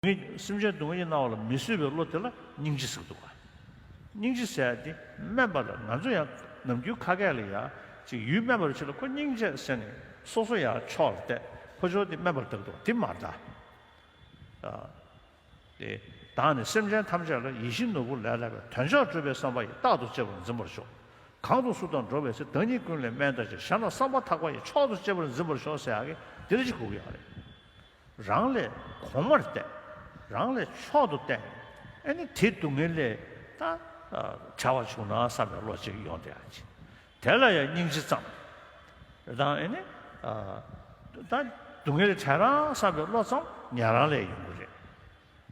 ངས་སེམས་ཅན་སྡུག་བསྔལ་གྱི་སྣང་བ་ལ་མི་བཟོད་པའི་བློ་དེ་ལ་སྙིང་རྗེ་ཟེར་འདུག། སྙིང་རྗེ་ཟེར་ཏེ་སྨྲས་པ་ལ་ང་ཚོ་ཡང་ནམ་རྒྱུན་ཁ་སྐད་ལ་ཡང་ཅིག་ཡུལ་སྨད་པར་བྱེད་ལ་ཁོ་སྙིང་རྗེ་ཟེར་ནས་སོ་སོ་ཡང་ཕྱོགས་ལ་བལྟས་ཁོ་ཕྱོགས་དེ་སྨད་པར་བརྡབས་འདུག་དེ་མ་གདའ། དེ་དག་ནི་སེམས་ཅན་ཐམས་ཅད་ལ་ཡིད་བཞིན་ནོར་བུ་ལས་སླ་བའི་དོན་ཆགས་སྤྲོས་པའི་བསམ་པ་ཡིས་རྟག་ཏུ་གཅེས་པར་འཛིན་པར་ཤོག། གང་དུ་སུ་དང་འགྲོགས་པའི་ཚེ་བདག་ཉིད་ཀུན་ལས་དམན་དང་བཅས་ཞར་ན་བསམ་པ་ཐག་པ་ཡིས་མཆོག་ཏུ་གཅེས་པར་འཛིན་པར་ཤོག་ཟེར་ཡག་གི་འདིར་གཅིག་གོ་གི་ཡག་རེད། རང་ལས་གོང་མར་བལྟས། རང་ལས་མཆོག་ཏུ་བསྟན། ཨེ་ནི་དེ་སྡུག་བསྔལ་ལས་ད་བྱ་བ་བྱུང་ན་བསམ་པའི་བློ་ཅིག་ཡོང་སྟེ། དེ་ལ་ཡང་སྙིང་རྗེ་བརྩམ། དང་ཨེ་ནི། ད་སྡུག་བསྔལ་ལས་བྲལ་རང་བསམ་པའི་བློ་བརྩམ་ཉན་རང་ལས་ཡོང་གི་རེད།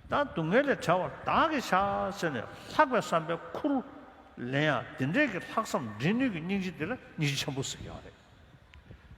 ད་སྡུག་བསྔལ་ལས་བྲལ་བར་བདག་གིས་བྱ་ཟེར་ནས་ལྷག་པའི་བསམ་པའི་འཁོར་ལོ་ལེན་ཡང་དེ་འདྲས་ཀྱི་ལྷག་བསམ་འདྲེན་ནུས་ཀྱི་སྙིང་རྗེ་དེ་ལ་སྙིང་རྗེ་ཆེན་པོ་ཟེར་གྱི་ཡོད་རེད།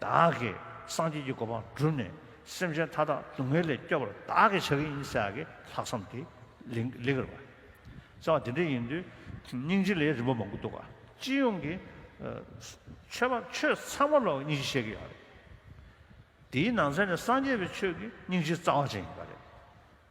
བདག་གིས་སངས་རྒྱས་ཀྱི་གོ་འཕང་བསྒྲུབས་ནས་སེམས་ཅན་མཐའ་དག་སྡུག་བསྔལ་ལས་སྐྱོབ་པར་བདག་གིས་བྱ་གི་ཡིན་ཟེར་བ་གི་ལྷག་བསམ་དེ་ལེགས་གི་རེད་པ། ཟེར་བ་དེ་འདྲ་ཡིན་དུས་སྙིང་རྗེ་ལས་རིན་པོ་མང་པོ་འདུག་ག་སྤྱི་ཡོངས་ཀྱི་ཆོས་པ་ཆོས་ཚང་མ་ལ་སྙིང་རྗེ་བཤད་གི་ཡོད་རེད། དེའི་ནང་ཚན་ནས་སངས་རྒྱས་པའི་ཆོས་ཀྱི་སྙིང་རྗེ་རྩ་བ་ཅན་ཡིན་པ་རེད།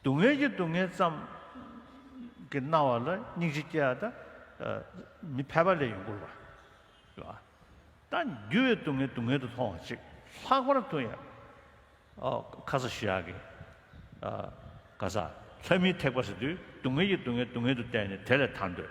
སྡུག་བསྔལ་གྱི་སྡུག་བསྔལ་ཙམ་གྱི་སྣང་བ་ལ་སྙིང་རྗེ་སྐྱེ་བ་དང། མི་ཕལ་པ་ལས་ཡོངས་བསྐོར་བ། ད་འགྱུར་བའི་སྡུག་བསྔལ་སྡུག་བསྔལ་དུ་མཐོང་བ་ཅིག་ལྷག་པར་དུ་ཡང། ཁ་ས་ཞི་ཡག་གིས། ཀ་ས། ལྷ་མིའི་ཐེག་པ་ཟེར་དུས་སྡུག་བསྔལ་གྱི་སྡུག་བསྔལ་སྡུག་བསྔལ་དུ་བལྟས་ནས་དེ་ལས་ཐར་འདོད།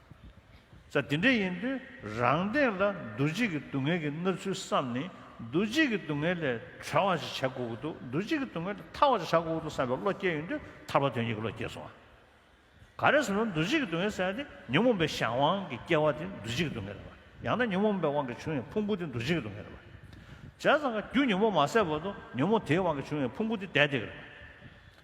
ས་དེ་འདྲ་ཡིན་དུས་རང་སྟེང་ལ་འདུ་བྱེད་ཀྱི་སྡུག་བསྔལ་གྱི་ན་ཚུལ་བསམས་ནས་འདུ་བྱེད་ཀྱི་སྡུག་བསྔལ་ལས་གྲོལ་བ་ཞིག་བྱ་དགོས་ཀྱི་འདུག་འདུ་བྱེད་ཀྱི་སྡུག་བསྔལ་ལས་ཐར་བ་ཞིག་བྱ་དགོས་ཀྱི་འདུག་བསམ་པའི་བློ་སྐྱེས་ཡོང་དུས་ཐར་པ་དོན་གཉིས་ཀྱི་བློ་སྐྱེས་སོང་བ། ག་རེ་ཟེར་ན་འདུ་བྱེད་ཀྱི་སྡུག་བསྔལ་ཟེར་བ་དེ་ཉོན་མོངས་པའི་གཞན་དབང་གིས་སྐྱེ་བ་དེ་འདུ་བྱེད་ཀྱི་སྡུག་བསྔལ་རེད་པ། ཡང་ན་ཉོན་མོངས་པའི་དབང་གིས་བྱུང་བའི་ཕུང་པོ་དེ་འདུ་བྱེད་ཀྱི་སྡུག་བསྔལ་རེད་པ། བྱས་ཙང་ཀ་རྒྱུ་ཉོན་མོངས་མ་བསལ་བར་དུ་ཉོན་མོངས་དེའི་དབང་གིས་བྱུང་བའི་ཕུང་པོ་དེ་བདེ་བདེ་རེད་པ།